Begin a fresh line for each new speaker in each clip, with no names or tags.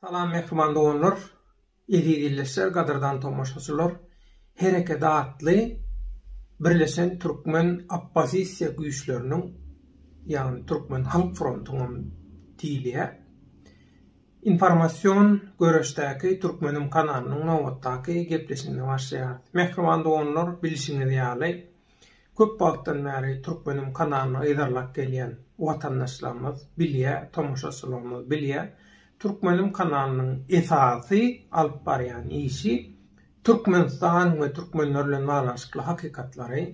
Salam mehriban doganlar, eziz ildeşler, gadyrdan tomaşaçylar. Hereket atly birleşen türkmen oppozisiýa güýçleriniň, ýagny türkmen halk frontunyň diýilýär. Informasion göreşdäki Türkmenim kanalynyň nobatdaky gepleşigine başlaýarys. Mähriban doganlar, bilşiňiz ýaly, köp wagtdan bäri Türkmenim kanalyny yzarlap gelýän watandaşlarymyz bilýär, tomaşaçylarymyz bilýär, Türkmenim kanalynyň esasy alyp barýan işi Türkmenistan we türkmenler bilen baglanyşykly hakykatlary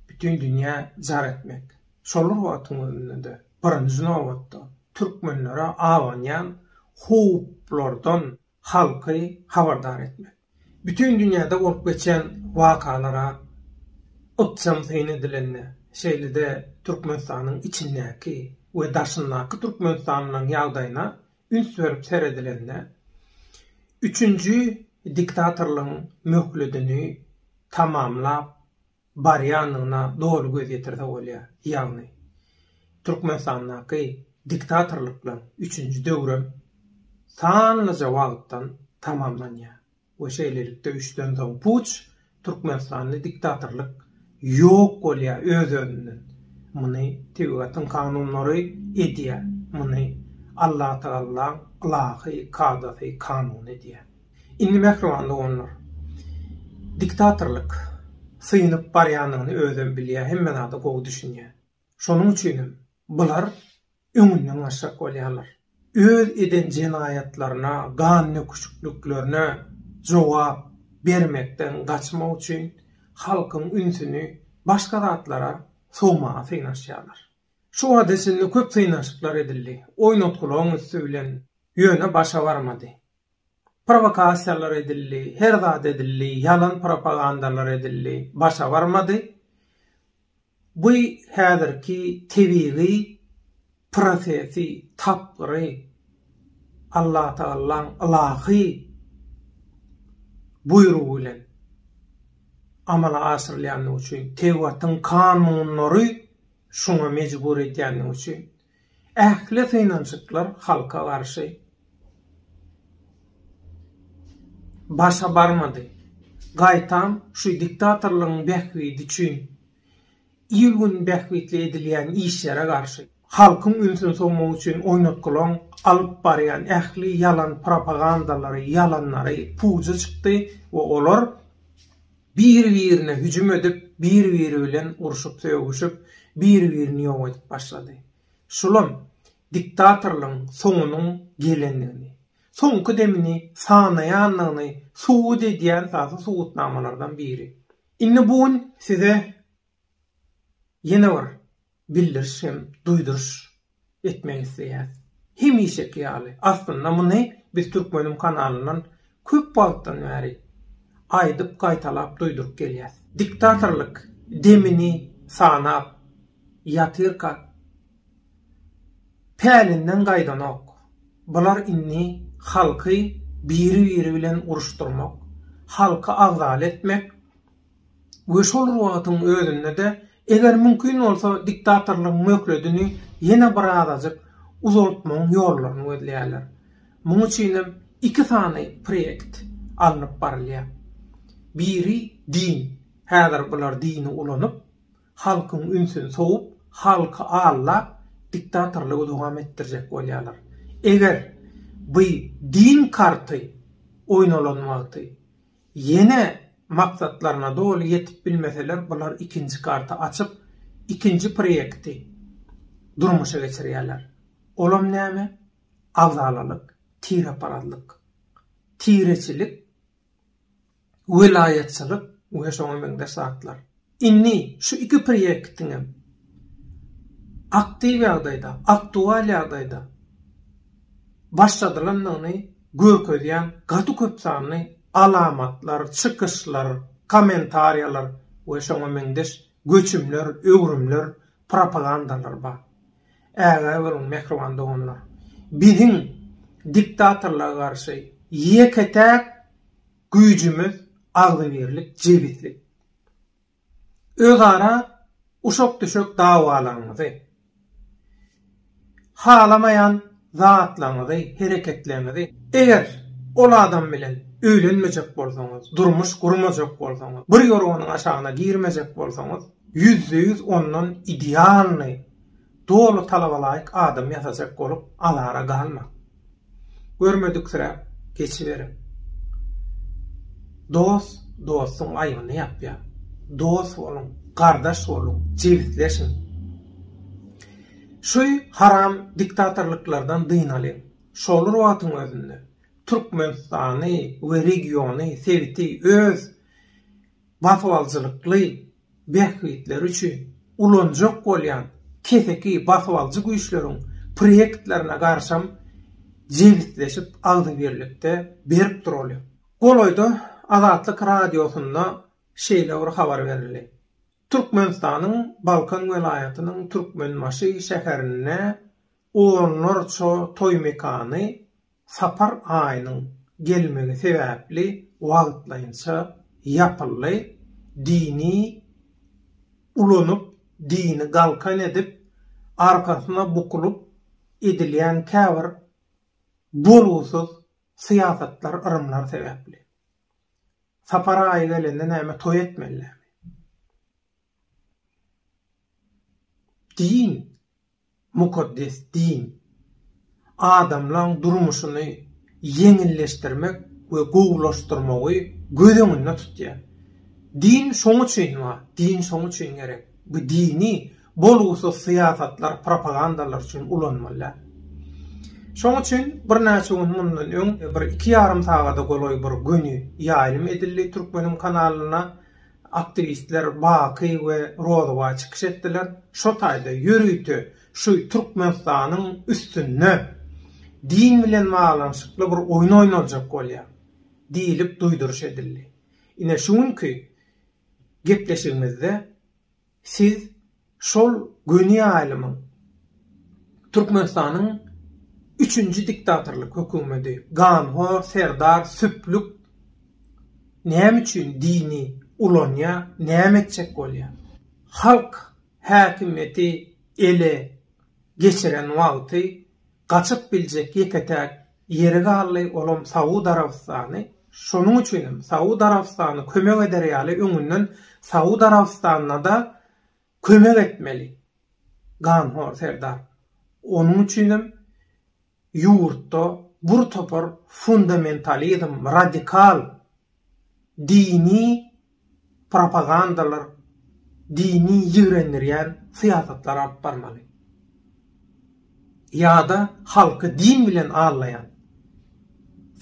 bütin dünýä jar etmek. Şolar wagtyň özünde-de, birinji nobatda, türkmenlere abanýan howplardan halky habardar etmek, bütin dünýäde bolup geçýän wakalara ykjam syn edilende, şeýle-de Türkmenistanyň içindäki we daşyndaky türkmenistanlylaryň ýagdaýyna üns berip seredilende, üçünji diktatorlygyň möhledini tamamlap barýandygyna doly göz ýetirse bolýar. Ýagny, Türkmenistandaky diktatorlyklaryň üçünji döwrem sanlyja wagtdan tamamlanýar we şeýlelikde üçden soň puç, türkmenistanly diktatorlyk ýok bolýar öz-özünden. Muny tebigatyň kanunlary edýär, muny Allatagallaň ylahy kadasy, kanuny edýär. Indi mähriban doganlar, diktatorlyk synyp barýanyny özem bilýär, hemme zada gowy düşünýär. Şonuň üçinem bular öňünden gaçjak bolýarlar. Öz eden jenaýatlaryna, gannöküşikliklerine jogap bermekden gaçmak üçin halkyň ünsüni başga zatlara sowmaga synanyşýarlar. Şu wagta çenli köp synanyşyklar edildi, oýnatgylaryň üsti bilen, ýöne başa barmady. Prowokasiýalar edildi, her zat edildi, ýalan propagandalar edildi, başa barmady. Bu häzirki tebigy prosesi, tapgyry, Allatagallaň ylahy buýrugy bilen amala aşyrylýandygy üçin, tebigatyň kanunlary şuňa mejbur edýändigi üçin Ähli synanyşyklar halka garşy başa barmady. Gaýtam şu diktatorlygyň bähbidi üçin il-gün bähbitli edilýän işlere garşy, halkyň ünsüni sowmak üçin oýnatgylaň alyp barýan ähli ýalan propagandalary, ýalanlary puja çykdy we olar Bir-birine hüjüm edip, bir-biri bilen urşup-sögüşip, bir-birini ýok edip başlady. Şulam, diktatorlygyň soňunyň gelendigini, soňky demini sanaýandygyny subut edýän esasy subutnamalardan biri. Indi bu gün size ýene bir bildiriş hem duýduryş etmek isleýäs. Hemişeki ýaly, aslynda muny biz Türkmenim kanalyndan köp wagtdan bäri aýdyp gaýtalap duýduryp gelýäs. Diktatorlyk demini sanap ýatyrka pälinden gaýdanok. Bular indi halky biri-biri bilen uruşdyrmak, halky agzaly etmek, we şol wagtyň özünde-de, eger mümkin bolsa, diktatorlygyň möhledini ýene birazajyk uzaltmagyň ýollaryny gözleýärler. Muň üçin hem iki sany proýekt alnyp barylýar. Biri, din. Häzir bular dini ulanyp, halkyň ünsüni sowup, halky aldap, diktatorlygy dowam etdirjek bolýarlar. Eger bu din karty oýnalan wagty, Ýene maksatlaryna doly ýetip bilmeseler bular ikinji karty açyp ikinji proýekti durmuşa geçirýärler. Olam näme? Agzalalyk, tireparazlyk, tireçilik, welaýatçylyk we şoňa meňzeş zatlar. Indi şu iki prýektiňem aktiw ýagdaýda, aktual ýagdaýda başladylandygyny görkezýän gaty köp sanly alamatlar, çykyşlar, kommentariýalar we şoňa meňzeş göçümler, öwrümler, propagandalar bar. Ägä boluň, mähriban doganlar! Biziň diktatorlyga garşy ýeke-täk güýjümiz agzybirlik, jebislik. özara uşak-düşek dawalaryňyzy, halamaýan zatlaryňyzy, hereketleriňizi, eger ol adam bilen öýlenmejek bolsaňyz, durmuş gurmajak bolsaňyz, bir ýorganyň aşagyna girmejek bolsaňyz, ýüzde ýüz ondan idealnyý Doly talabalaýyk adam ýasajak bolup azara galmaň. Görmediksiräp geçiberiň. Dost dostuň aýbyny ýapýar. Dost boluň, gardaş boluň, jebisleşiň. Şü haram diktatorlyklardan dynalyň. Şol wagtyň özünde Türkmenistany we regiony, sebiti öz basybaljylykly bähbitleri üçin ulanjak bolýan keseki basyp alyjy güýçleriň proýektlerine garsam jebisleşip agzybirlikde berip duralýar. Golaýda Azatlyk Radiosynda şeýle bir habar berildi. Türkmenistanyň Balkan welaýatynyň Türkmenbaşy şäherinde Onlarça toý mekany sapar aýynyň gelmegi sebäpli wagtlaýynça ýapyldy, dini ulanyp, dini galkan edip, arkasyna bukulyp edilýän käbir bolgusyz syýasatlar, yrymlar sebäpli. Sapar aýy gelende näme toý etmelirämi? Din, mukaddes din, adamlaň durmuşyny ýeňilleşdirmek we gowulaşdyrmagy göz öňünde tutýar. Din şoň üçin bar, din şoň üçin gerek. Bu dini bolgusyz syýasatlar, propagandalar üçin ulanmaly däl. Şoň üçin birnäçe gün mundan öň, bir iki ýarym sagada golaý bir göni ýaýlym edildi türkmeniň kanalyna, Aktiwistler Baky we Rozowa çykyş etdiler. Şo taýda ýörite şu Türkmenistanyň üstünde din bilen baglanyşykly bir oýun oýnaljak bolýar diýlip duýduryş edildi. Ine şu günki gepleşigimizde Siz şol göni ýaýlymyň Türkmenistanyň üçünji diktatorlyk hökümedi, ganhor serdar süplük näme üçin dini ulanýa, näme etjek bolýa? Halk häkimiýeti ele geçiren wagty gaçyp biljek ýeke-täk ýeri galdy, olam Saud Arabystany, şonuň üçin hem Saud Arabystany kömek eder ýaly öňünden Saud Arabystanyna-da kömek etmeli ganhor serdar, onuň üçin hem ýurtda bir topar fundamentalizm, radikal dini propagandalar, dini ýigrendirýän syýasatlar alyp barmaly. Ýa-da halky din bilen aldaýan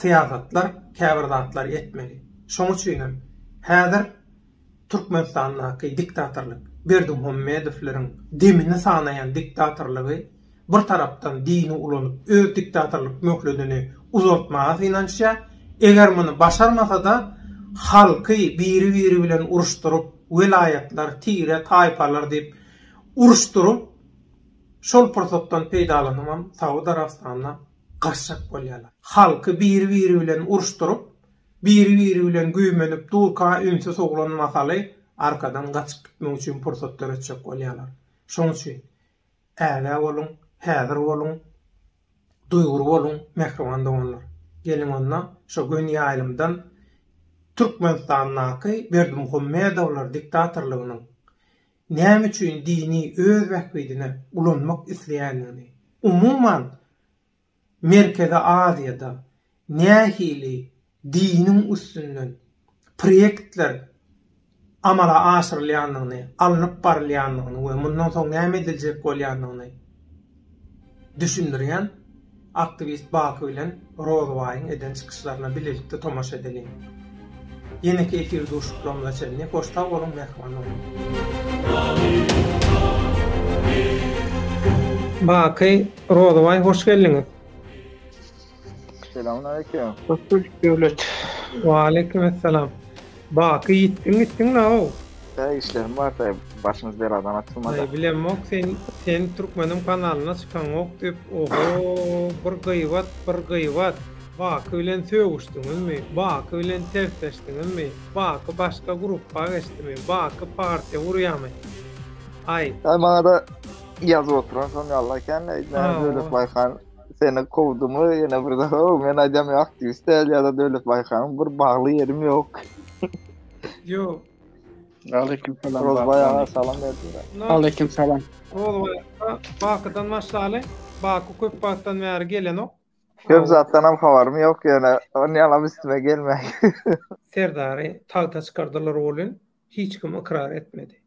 syýasatlar, käbir zatlar etmeli. Şoň üçinem häzir Türkmenistandaky diktatorlyk, Berdimuhamedowleriň demini sanaýan diktatorlygy bir tarapdan dini ulanyp öz diktatorlyk möhledini uzaltmaga synanyşýar, eger muny başarmasa-da halky biri-biri bilen uruşdyryp, welaýatlar, tire, taýpalar diýip uruşdyryp, şol pursatdan peýdalanybam Saud Arabystanyna garşak bolýarlar. Halky biri-biri bilen uruşdyryp, Biri-biri bilen güýmenip durka ünsi sowlan mahaly arkadan gaçyp gitmek üçin pursat döretjek bolýarlar. Şoň üçin, ägä boluň, häzir boluň, duýgur boluň, mähriban doganlar! Geliň onda, şo göni ýaýlymdan Türkmenistandaky Berdimuhamedowlar diktatorlygynyň näme üçin dini öz bähbidine ulanmak isleýändigini, umuman, Merkezi Aziýada nähili diniň üstünden proýektler amala aşyrylýandygyny, alnyp barylýandygyny we mundan soň näme ediljek bolýandygyny düşündirýän aktiwist Baky bilen Rozybaýyň eden çykyşlaryna bilelikde tomaşa edeliň. Ýeneki efir duşuşyklarymyza çenli hoş sag boluň, mähriban boluň! Baky Rozabaý hoş geldiňiz. Selamun
aleyküm. Hoş bulduk Döwlet.
Wa aleyküm esselam. Baky ýitdiň gitdiň naw? Täze işlerim
bar taý başymyz beladan açylmady. Taý bilemok sen
sen türkmenim kanalyna çykaňok diýip oho bir gyýbat bir gyýbat. Baky bilen sögüşdiňizmi? Baky bilen tersleşdiňizmi? Baky başga gruppa geçdimi? Baky partiýa gurýamy?
Aý. Aý maňada Ýazyp oturan
şol
ýaly ekeni, näme Döwletbaý han seni kowdumy, ýene bir zat, o men aýdýan ýok aktiwist däl ýa-da Döwletbaý hanyň bir bagly ýerim ýok.
Ýok.
Aleyküm salam. Rozbaý aga
salam berdiler. Aleyküm salam.
Rozbaý
Bakydan başlaly. Baky köp wagtdan bäri gelenok. Köp zatdan hem
habarym ýok ýöne, onýalam üstüme gelmäý. Serdary
tagta çykardylar welin, Hiç kim ykrar etmedi.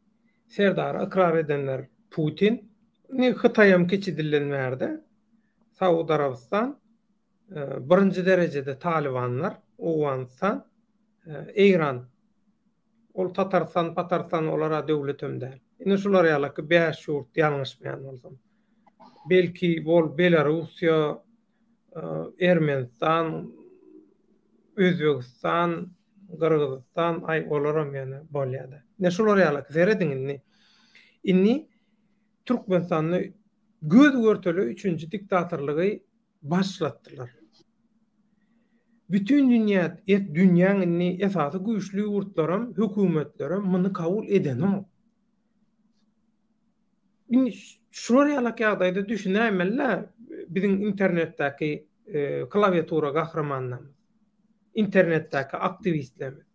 Serdary ykrar edenler Putin. Indi Hytaýam kiçi dilden bärde Saud Arabystan, birinji derejede Talybanlar, Owganystan, Eýran. Ol Tatarystan, Patarystan olara döwletem däl. Indi şular ýalaky bäş ýurt ýalňyşmaýan bolsam. Belki bol Belarussiýa, Ermenistan, Özbegistan, Gyrgyzystan, aý olaram ýöne bolýada. Ine şular ýaly serediň indi. Indi Türkmenistanda göz görtele üçünji diktatorlygy başlatdylar. Bütin dünýä, et dünýäň indi esasy güýçli ýurtlaram, hökümetlerem muny kabul edenok. Indi şular ýalak ýagdaýda düşünäýmeli-le biziň internetdäki e, klawiatura gahrymanlarymyz. Internetdäki aktiwistlerimiz.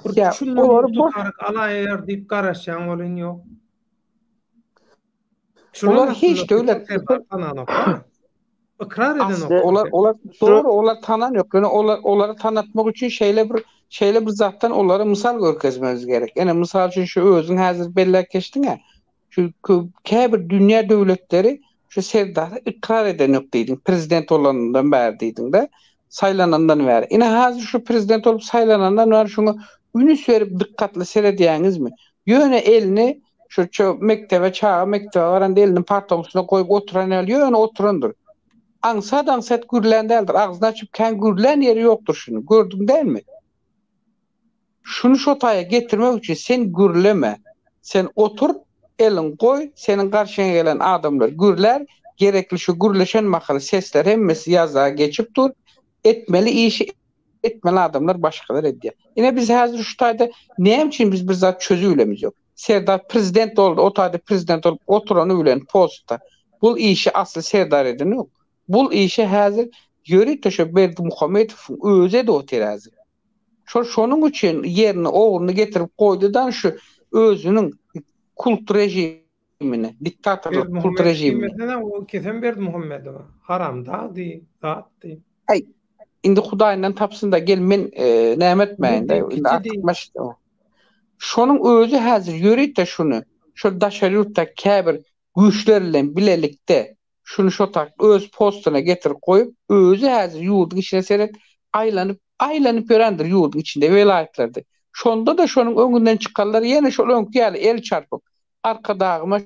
Bir Ya,
şundan olar bir boş- tutaryk
alaýar diýip garaşýan bolan ýok.
Şular Olar hiç aslynda döwlet- bütün kanallar.
Ykrar edenok. Olar olar dogry
olar tanan ýok. Ýöne olar olary tanatmak üçin şeýle bir şeýle bir zatdan olara mysal görkezmemiz gerek. Ene mysal üçin şu özüň häzir belläp geçdiňä. Şu käbir dünýä döwletleri şu Serdary ykrar edenok diýdiň. Prezident bolanyndan bäri diýdiňde. Saýlanandan bäri. Ine häzir şu prezident bolup saýlanandan bäri şuňa ünüs berip dykgatly seredýäňizmi? Ýöne elini Şu mekdebe çaga mekdebe baranda elini partaň üstüne goýup oturan ýaly ýöne oturandyr. Aňsat-aňsat gürlän däldir. Agzyny açyp kän gürlän ýeri ýokdur şuny. Gördüň dälmi? Şuny şo taýa getirmek üçin sen gürleme. Sen otur, eliň goý, seniň garşyňa gelen adamlar gürlär, gerekli şu gürleşen mahaly sesler hemmesi ýazda geçip dur. Etmeli işi etmeli adamlar başgalar edýär. Ine biz häzir şu taýda näme üçin biz bir zat çözüp bilemiz ýok. Serdar prezident boldy, o taýda prezident bolup oturany bilen postda bu işi asly Serdar edenok. Bu işi häzir ýörite şo Berdimuhamedowyň özi edip otyr häzir. Şol şonuň üçin ýerine ogluny getirip goýdy-da şu özüniň kult režimi rejimine, diktatorlyk kult rejimine. Berdimuhammedow diýmesene, o kesen
Berdimuhammedowa. Haramdagdy, zatdy. Aý,
indi Hudaýyndan tapsyn-da, gel men e, näme etmäýin-de, indi artyk meşk. Şonuň özi häzir ýörite şuny, şol daşary ýurtdaky käbir güýçler bilen bilelikde Şuny şo tak öz postuna getirip goýup, özi häzir ýurduň içine seret, aýlanyp, aýlanyp ýörendir ýurduň içinde, welaýatlarda. Şonda-da şonuň öňünden çykanlar ýene şol öňki ýaly el çarpyp, Arkadagyma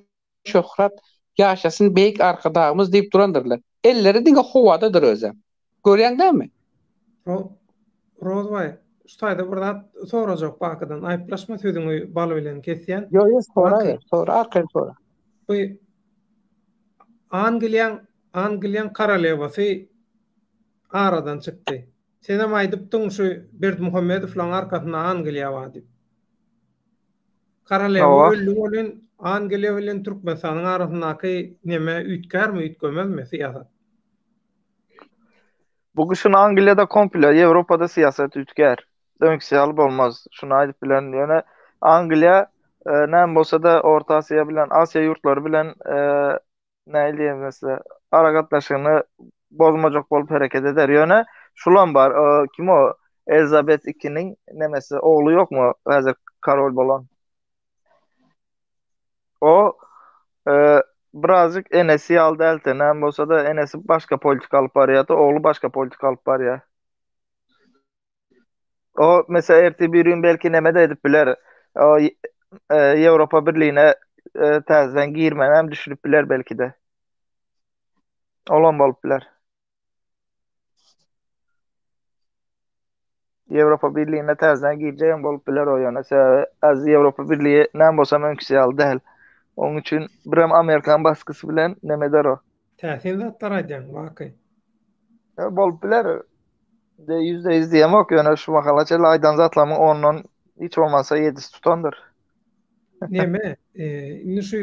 şöhrat, ýaşasyn beýik Arkadagymyz diýip durandyrlar. Elleri diňe howadadyr özem. Görýäň näme? Rozbaý,
şu taýda bir zat sorajak Bakydan. Aýyplaşma sözüňi bal bilen kesýän. Ýok, ýok, soraber,
sora, arkaýyn sora. Bu
Angliýaň, Angliýaň korolewasy aradan çykdy. Senem aýdypdyň şu Berdimuhamedowlaň arkasynda Angliýa bar diýip. Korolewa öldi welin, Angliýa bilen Türkmenistanyň arasyndaky neme üýtgärmi, üýtgemezmi syýasat?
Bu gyşyn Angliýada komple, Ýewropada syýasat üýtgär. Öňküsi ýaly bolmaz. Şuny aýdyp bilerin. Ýöne Angliýa e, näme bolsa-da Orta Aziýa bilen, Aziýa ýurtlary bilen e, näme diýerin size, aragatnaşygyny bozmajak bolup hereket eder. Ýöne şulam bar. E, kim o? Elizabeth II-niň nemesi, ogly ýokmy? Häzir korol bolan. O eee, birazjyk enesi ýaly däl, tenem bolsa-da, enesi başga politika alyp barýar-da, ogly başga politika alyp barýar. O, meselem, ertir bir gün belki neme-de edip biler. O, y- eee, Ýewropa Birligine eee, täzeden girmegem düşünip biler belki-de. Olam bolup biler. Ýewropa Birligine täzeden girjegem bolup biler o ýöne sebäbi az Ýewropa Birligi näme bolsa öňküsi ýaly däl. Oň üçin birem Amerikan baskysy bilen nemeder o. Täsin zatlar
aýdýaň Baky. Ýa
bolup biler. De ýüzde ýüz diýemok ýöne şu mahala çenli aýdan zatlarymyň ondan hiç bolmasa ýedisi tutandyr. Neme,
indi şu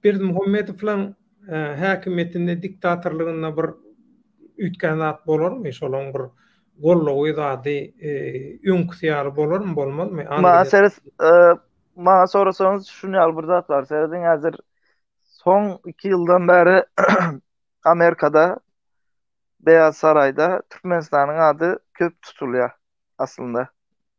Berdimuhamedowlaň häkimiýetinde, diktatorlygynda bir üýtgän zat bolarmy? Şolaň bir goldawy zady öňküsi ýaly bolarmy, bolmazmy? Maňa seres,
maňa sorasaňyz şuny ýaly bir zat bar. Serediň häzir soň iki ýyldan bäri Amerikada Beýaz Saraýda Türkmenistanyň ady köp tutulýar aslynda.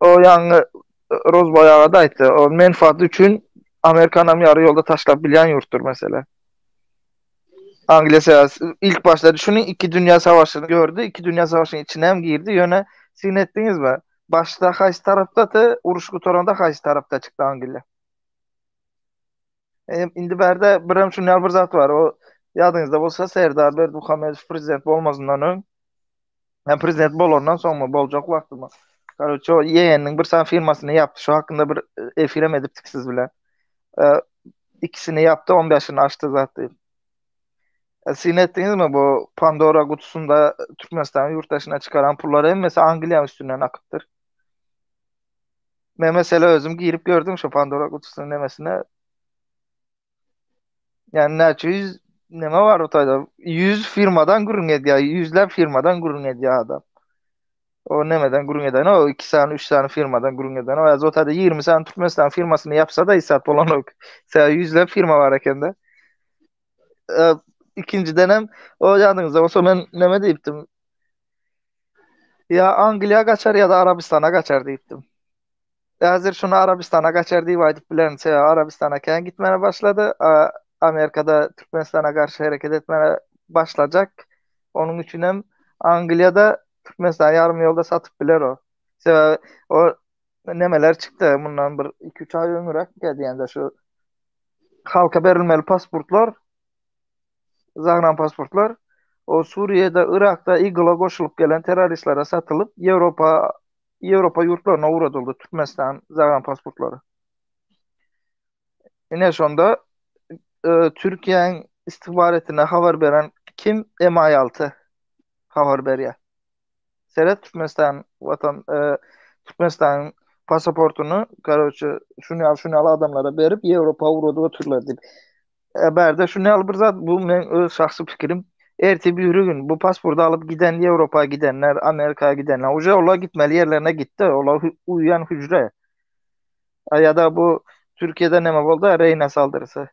O ýaňy Rozbaý aga-da aýtdy, o menfaaty üçin Amerikanam ýary ýolda taşlap bilýän ýurtdur meselä. Angliýa sebäp ilk başda düşüniň iki dünýä savaşyny gördi, iki dünýä savaşynyň içine hem girdi, ýöne siz netdiňizmi? Başda haýsy tarapdady, uruş gutaranda haýsy tarapda çykdy Angliýa? Indi bärde birem şunýal bir zat bar. O ýadyňyzda bolsa Serdar Berdimuhamedow prezident bolmazyndan öň hem prezident bolandan soňmy boljak wagtymy. Karoçe o ýegeniniň bir sany firmasyny ýapdy. Şu hakynda bir e, efirem edipdik siz bilen. E, ikisini ýapdy, 15-ini açdy zat diýip. E, siz etdiňizmi bu Pandora gutusynda Türkmenistanyň ýurt daşyna çykaran pullar hemmesi Angliýanyň üstünden akypdyr. Men mesela özüm girip gördüm şu Pandora kutusynyň nemesine. Yani näçe yüz neme var o tayda? Yüz firmadan gürün edýär, yüzler firmadan gürün edýär adam. O nemeden gürün eden o iki sany, üç sany firmadan gürün eden o az o tayda 20 sany Türkmenistan firmasyny yapsa da isat bolan ok. Sen yüzler firma var ekende. Ee, ikinciden hem o yanınızda olsa men neme deyiptim? Ýa Angliýa gaçar ýa-da Arabystana gaçar diýipdim. Häzir şuny Arabystana gaçar diýip aýdyp bilerin. Sebäbi Arabystana kän gitmäne başlady. Amerikada Türkmenistana garşy hereket etmäne başlajak. Onuň üçin hem Angliýada Türkmenistany ýarym ýolda satyp biler o. Sebäbi o nemeler çykdy mundan bir iki-üç aý öňüräk diýende şu halka berilmeli pasportlar Zagranpasportlar o Suriýada, Yrakda IGL-a goşulyp gelen terroristlere satylyp, Ýewropa Ýewropa ýurtlaryna ugradyldy Türkmenistan zagranpasportlary. Ine şonda e, Türkiýäň istihbaratine habar beren kim? MI6 habar berýär. Seret Türkmenistan watan e, Türkmenistanyň pasaportuny, karoçe, şuny al, şuny al adamlara berip, Ýewropa ugrady götürler diýip. E, bärde şu näli bir zat, bu men öz şahsy pikirim. Erti biri gün bu pasporty alyp giden Ýewropa gidenler, Amerika gidenler, uje olar gitmeli ýerlerine gitdi, olar uýan hüjre. A ýa-da bu Türkiýede näme boldy, Reýna saldyrysy.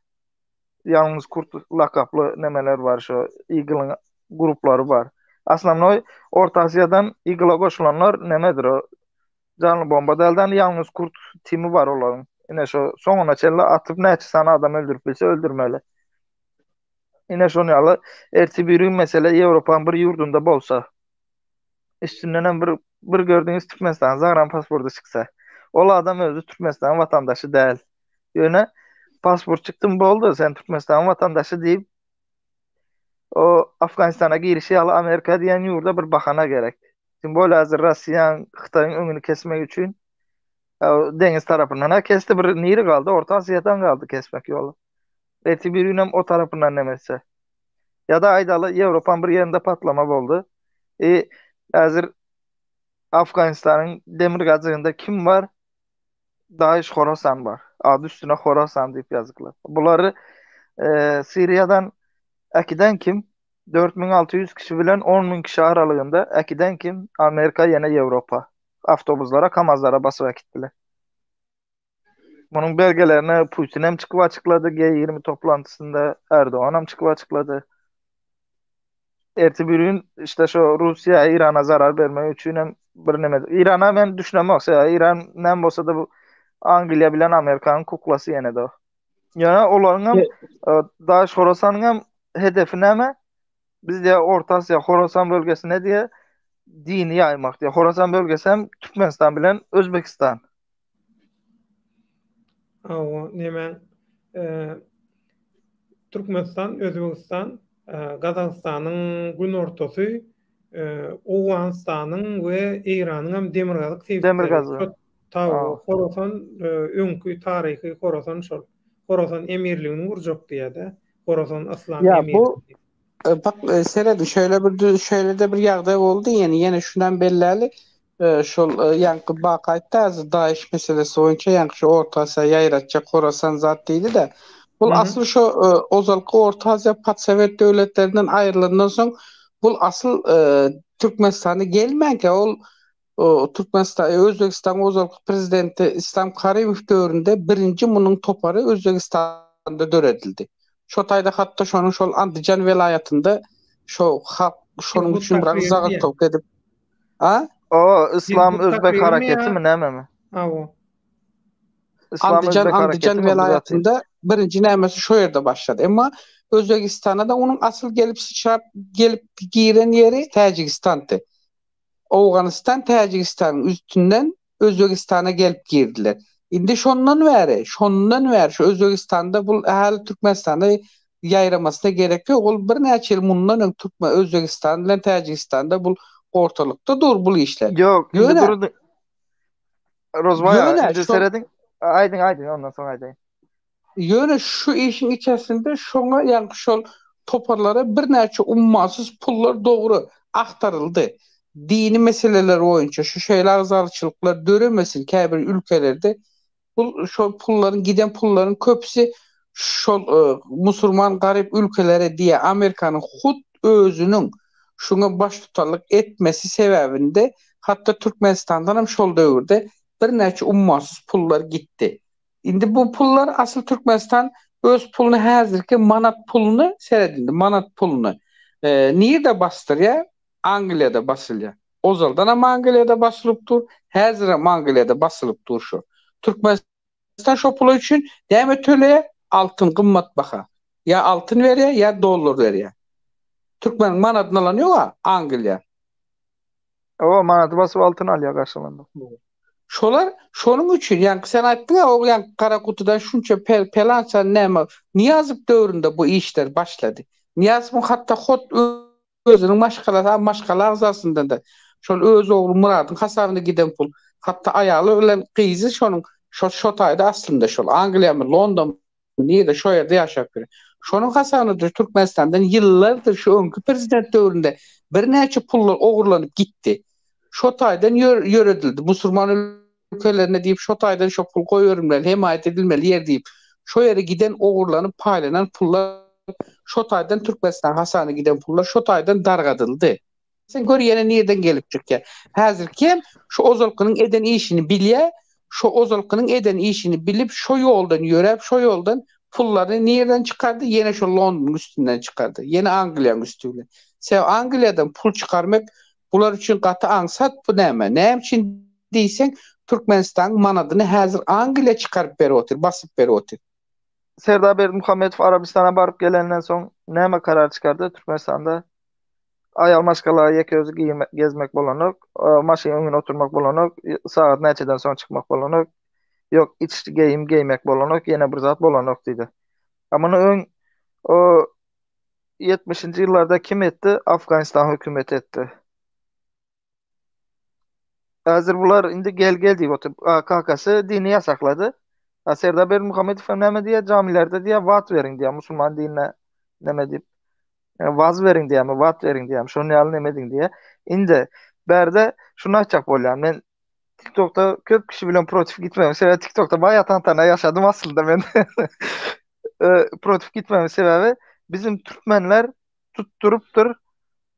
Ýalňyz kurt lakaply nämeler bar şu, Eagle-yň gruplary bar. Aslamnoý Orta Aziýadan Eagle-a goşulanlar nämedir o? Janly bomba däl de ýalňyz kurt timi bar olaryň. Ine şo soňuna çenli atyp näçe sany adam öldürip bilse öldürmeli. Ine şon ýaly erti biri mesele Ýewropanyň bir ýurdunda bolsa. Üstünden hem bir bir gördüňiz Türkmenistanyň zagram pasporty çyksa. Ol adam özi Türkmenistanyň watandaşy däl. Ýöne pasport çykdym boldy sen Türkmenistanyň watandaşy diýip o Afganistana girişi ýaly Amerika diýen ýurda bir bahana gerek. Kim bol hazır Russian Hytayň öňüni kesmek üçin deňiz tarapyndan ha kesdi bir niri galdy orta Aziýadan galdy kesmek ýoly. Erti bir günem o tarapyndan nemetse. Ya da aýdaly Ýewropan bir ýerinde patlama boldy. E hazır Afganistanyň demir gazygynda kim bar? Daýş Horasan bar. Ady üstüne Horasan diýip ýazyklar. Bulary e, Siriýadan äkiden kim? Dört müň alty ýüz kişi bilen on müň kişi aralygynda äkiden kim Amerika ýene Ýewropa awtobuslara kamazlara basyp äkitdiler. Munuň belgelerini Putin hem çykyp açyklady G ýigrimi toplantysynda Erdogan hem çykyp açyklady. Erti birgün işte şu Russiýa Eýrana zarar bermek üçin hem bir neme Eýrana men düşünemok sebäbi Eýran näme bolsa-da bu Angliýa bilen Amerikanyň kuklasy ýene-de o. Ýa olaryň hem Daş Horasanyň hem hedefi näme? Biz diýä Orta Aziýa, Horasan bölgesine diýä dini ýaýmak diýä. Horasan bölgesi hem Türkmenistan bilen Özbegistan.
Awa, näme? Türkmenistan, Özbegistan, Gazagystanyň günortasy, Owganystanyň we Eýranyň hem demirgazyk sebitleri. Tawa, Horasan, öňki taryhy Horasan şol. Horasan emirligini gurjak diýýär-dä. Horasan yslam emirligi.
Ýa bu bak serediň şeýle bir şeýle-de bir ýagdaý boldy ýene ýene şunam belläli şol ýaňky bak aýtdy azy daýyş meselesi boýunça ýaňky şu orta asýa ýaýratjak Horasan zat diýdi-de bul asyl şo ozalky orta aziýa podsowet döwletlerinden aýrylandan soň bul asyl Türkmenistana gelmänkä ol Türkmenistan, Özbegistanyň ozalky prezidenti Islam Karimow döwründe birinji munuň topary Özbegistanda döredildi. Şo taýda hat-da şonuň şol Andijan welaýatynda şo halk şonuň üçin biraz zagyklyk edip, a? O,
Islam Özbek hareketimi nämemi? Aw. Andijan, Andijan welaýatynda birinji
nämesi şo ýerde başlady. Emma Özbegistana-da onuň asyl gelip syçrap gelip giren ýeri Täjigistandy. Owganystan Täjigistanyň üstünden Özbegistana gelip girdiler. Indi şondan bäri, şondan bäri şu Özbegistanda bul ähli Türkmenistana ýaýramasyna gerek ýok. Ol birnäçe ýyl mundan öň Türkmen Özbegistan bilen Täjigistanda bul ortalykda dur bul işler. Ýok, indi Ýöne durdy.
Rozbaý aga, Ýöne indi şol- serediň.
Aýdyň,
aýdyň, ondan soň aýdaýyn. Ýöne
şu işiň içersinde şoňa ýaňky şol toparlara birnäçe ummasyz pullar dogry agtaryldy. Dini meseleler boýunça şu şeýle agzalçylyklar döremesin käbir ülkelerde bu şol pullaryň giden pullaryň köpüsi şol musurman garyp ülkelere diýýär. Amerikanyň hut özüniň şuňa baştutanlyk etmesi sebäbinde hatda Türkmenistandanam şol döwürde birnäçe ummasyz pullar gitdi. Indi bu pullar asyl Türkmenistan öz puluny häzirki manat puluny seret indi manat puluny nirde basdyrýa Angliýada basylýa ozaldanam Angliýada basylyp dur häzirem Angliýada basylyp dur şu Türkmenistan şo pula üçin näme töleýä altyn gymmat baha ýa altyn berýä ýa dollar berýä Türkmeniň manadyny alan ýoga Angliýa
Owa, manady basyp altyn alýar garşylanda. Şolar
şonuň üçin, ýaňky sen aýtdyň-a, o ýaňky gara gutudan şunça pelança näme, Nyýazow döwründe bu işler başlady. Nyýazowyň hatda hut özüniň maşgalasy, a maşgala agzasyndan-da, şol öz ogly Myradyň hasabyna giden pul, hatda aýaly bilen gyzy şonuň, şo şo taýda aslynda şol, Angliýamy, Londonmy, Nirede şo ýerde ýaşap ýör. Şonuň hasabynadyr Türkmenistandan ýyllardyr şu öňki prezident döwründe birnäçe pullar ogurlanyp gitdi. Şo taýdan ýöredildi. Musurman ülkelerine diýip şo taýdan şo pul goýberilmeli, hemaýat edilmeli ýer diýip. Şo ýere giden ogurlanyp paýlanan pullar şo taýdan Türkmenistanyň hasana giden pullar şo taýdan dargadyldy. Sen gör ýene nirden gelip çykýa. Häzirkem şu ozalkynyň eden işini bilýä, şo ozalkynyň eden işini bilip şo ýoldan ýöräp şo ýoldan pullaryny nirden çykardy ýene şo Londonyň üstünden çykardy. Ýene Angliýaň üsti bilen. Sebäbi Angliýadan pul çykarmek bular üçin gaty aňsat bu näme? Näme üçin diýseň Türkmenistanyň manadyny häzir Angliýa çykaryp berip otyr, basyp berip otyr. Serdar
Berdimuhamedow Arabystana baryp gelenden soň näme karar çykardy Türkmenistanda? Aýal maşgala ýeke özi girmek, gezmek bolanok. Maşynyň öňüne oturmak bolanok. Sagat näçeden soň çykmak bolanok. Ýok, iç geýim geýmek bolanok, ýene bir zat bolanok diýdi. A muny öň o 70-nji ýyllarda kim etdi? Afganistan hökümeti etdi. Häzir bular indi gel gel diýip oturyp. Kakasy dini ýasaklady. Serdar Berdimuhamedow hem näme diýýär? Jamilerde diýýär, wat beriň diýýär, musulman dinine näme diýip, waz beriň diýýärmi, wat beriň diýýärmi, şonuň ýaly näme ediň diýýär. Indi bärde şuny aýtjak bolýan, men TikTokda köp kişi bilen protiv gitmegiň sebäbi TikTokda baýa tantana ýaşadym aslynda men. Protiv gitmegiň sebäbi bizim türkmenler tutdurypdyr.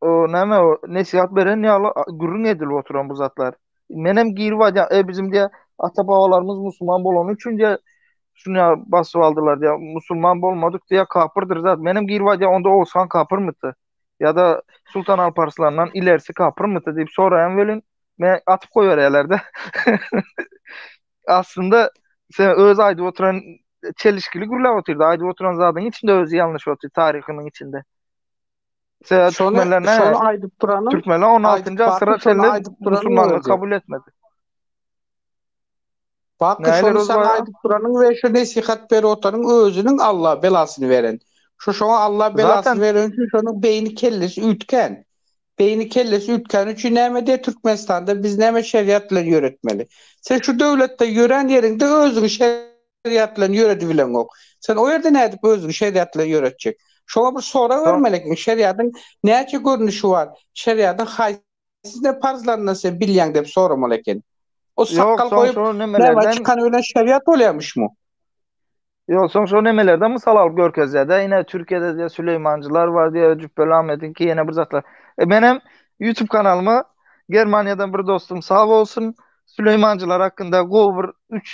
O näme o nesihat beren ýaly gürrüň edilip oturan bu zatlar. Menem girip aýdýan, e bizim diýä ata babalarymyz musulman bolany üçin diýä şuny ýa basyp aldylar diýä. Musulman bolmadyk diýä kapyrdyr zat. Menem girip aýdýan onda Oguzhan kapyrmydy? Ýa-da Sultan Alparslandan ilerisi kapyrmydy diýip soraýan welin men atyp goýberýärler-de. Aslynda sen öz aýdyp oturan çelişkili gürläp otyrdy. Aýdyp oturan zadyň içinde özi ýalnyş otyr taryhynyň içinde. Sebäbi Şony, türkmenlerine şony aýdyp duranym,
türkmenler 16 aýdyp njy baky,
asyra şony çenli aýdyp duranym musulmanlygy özi. kabul etmedi.
Baky, Näler şony saňa özbaýa? aýdyp duranym we şu nesihat berip otanym özüniň Alla belasyny beren. Şu şoňa Alla Zaten- belasyny beren üçin şonuň beýni kellesi üýtgän. Beýni kellesi üýtgäni üçin näme diýýär Türkmenistanda biz näme şeriat bilen ýöretmeli. Sen şu döwletde ýörän ýeriňde özüňi şe- şeriat bilen ýöredibileňok. Sen o ýerde nädip özüňi şeriat bilen ýöretjek? Şoňa bir sorag Soň- bermeli ekeniň, şeriatyň näçe görnüşi bar? Şeriatyň haýsysyny parzlaryndan sen bilýäň diýip soramaly eken. O Ýok, sakgal soň goýup, şu näme nemelerden- çykany bilen şeriat bolýarmyşmy?
Ýok, soň şu nemelerden mysal alyp görkezýär-dä, ine, Türkiýede diýýär, Süleýmanjylar bar diýýär, Jüpbeli Ahmediňki, ýene bir zatlar. E, menem YouTube kanalyma Germaniýadan bir dostum sag bolsun, Süleýmanjylar hakynda gowy bir üç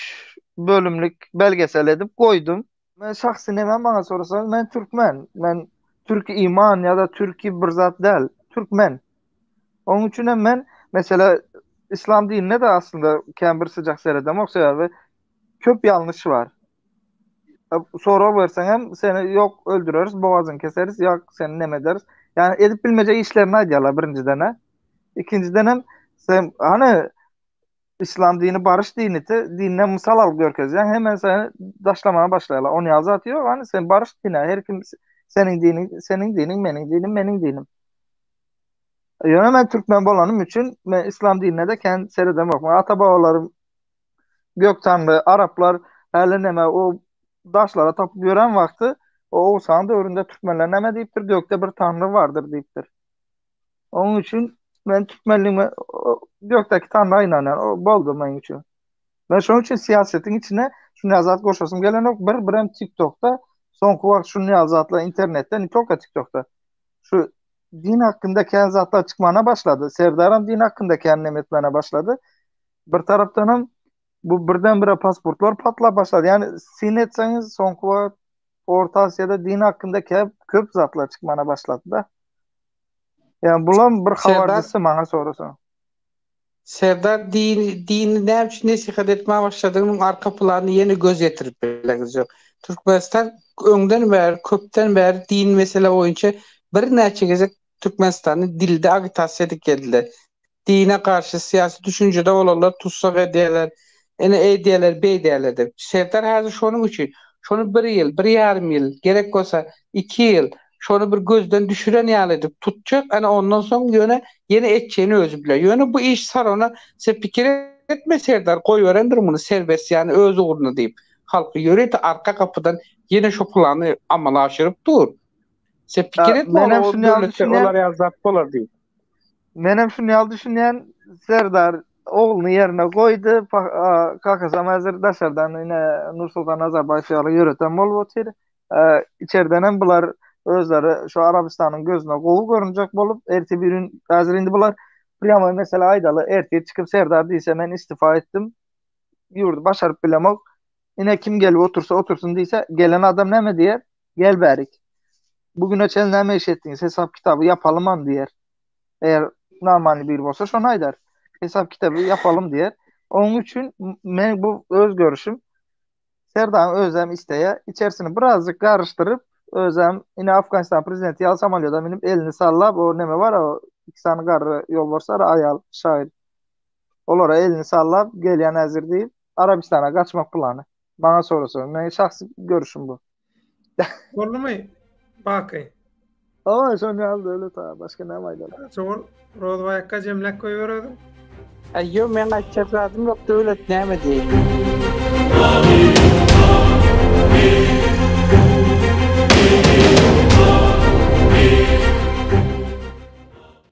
bölümlik belgesel edip goýdum. Men şahsy näme maňa sorasaňyz men türkmen. Men türki iman ýa-da türki bir zat däl. Türkmen. Onuň üçin hem men mesela islam dinine de aslynda kän bir syjak seredemok sebäbi köp ýalňyş bar. Sorag berseň hem seni ýok öldüreris, bogazyňy keseris, ýa seni neme ederis. Ýani edip bilmejek işlerini aýdýarlar birinjiden-ä. Ikinjidenem sen hany islam dini barış dini te dinden mysal alyp görkezýän hemen seni daşlamaga başlaýarlar. Ony ýaly zat ýok hany sen barış dini her kim seniň diniň seniň diniň meniň dinim meniň dinim. Ýöne men türkmen bolanym üçin men islam dinine de kän seredem ýok. Ata babalarym gök tanly araplar häli näme o daşlara tapyp ýören wagty o Oğuzhan döwründe türkmenler näme diýipdir gökde bir tanry bardyr diýipdir. Onuň üçin men türkmenligime ýokdaky tanda ynanýan. O boldy meniň üçin. Men şonuň üçin syýasatyň içine şu näzat goşasym gelenok. Bir birem TikTokda soňky wagt şu näzatlar internetde ne toka TikTokda. Şu din hakkında kän zatlar çykmana başlady. Serdaram din hakkında kän nemetmene başlady. Bir tarapdan hem bu birden bire pasportlar patlap başlady. Yani sin etseniz soňky wagt Orta Asyýada din hakkında köp köp zatlar çykmana başlady da. Yani bulam bir havardysy maňa sorasaň.
Serdar din dini näme üçin nesihat etmä başladygynyň arka planyny ýene göz ýetirip bileňiz ýok. Türkmenistan öňden bäri köpden bäri din mesele boýunça birnäçe gezek Türkmenistany dilde agitasiýa edip geldiler. Dine garşy syýasy düşünjede bolanlar tussag edýärler, ine eýdýärler, beýdýärler diýip. Serdar häzir şonuň üçin, şony bir ýyl, bir ýarym ýyl, gerek bolsa, iki ýyl, şony bir gözden düşüren ýaly edip tutjak, ine ondan soň ýöne ýene etjegini özi biler. Ýöne bu iş sarana sen pikir etme Serdar, goýberendir muny serbest ýany öz ugruna diýip, halky ýörite arka gapydan ýene şo plany amala aşyryp dur. Sen pikir et, men hem şuny ýaly düşünýän. Olar ýaly zat bolar diýip. Men hem
şuny ýaly düşünýän. Serdar ogluny ýerine goýdy. Kakasam häzir daşardan ine Nursultan Nazarbaýew ýaly ýöreten bolup otyr. Içerden hem bular özleri şu Arabystanyň gözüne gowy görünjek bolup, ertir bir gün häzir indi bular prýamoý mesele aýdaly, ertir çykyp Serdar diýse men istifa etdim. Ýurdy başaryp bilemok. Ine kim gelip otursa otursyn diýse, gelen adam näme diýer? Gel bärik. Bu güne çenli näme iş etdiňiz? Hesap kitaby ýapalymam diýer. Eger namany biri bolsa şony aýdar. Hesap kitaby ýapalym diýer. Onuň üçin men bu öz görüşim. Serdaň özem isteýär. Içerisini birazjyk garyşdyryp, özem ine Afganistan prezidenti ýaly samolýoda münüp elini sallap o näme bar o iki sany garry ýolbarslar aýal şaýyr. Olara elini sallap gelýän äzir diýip Arabistana gaçmak plany. Bana sorasa, men şahsy görüşüm bu. Boldumy?
Baky. Ama
şon ýaly döwlet ha, başga näme aýdaly? Şol Rozbaýakka
jemläp goýbererdim. Aýyo,
men aýtjak zadym ýok, döwlet näme diýýin?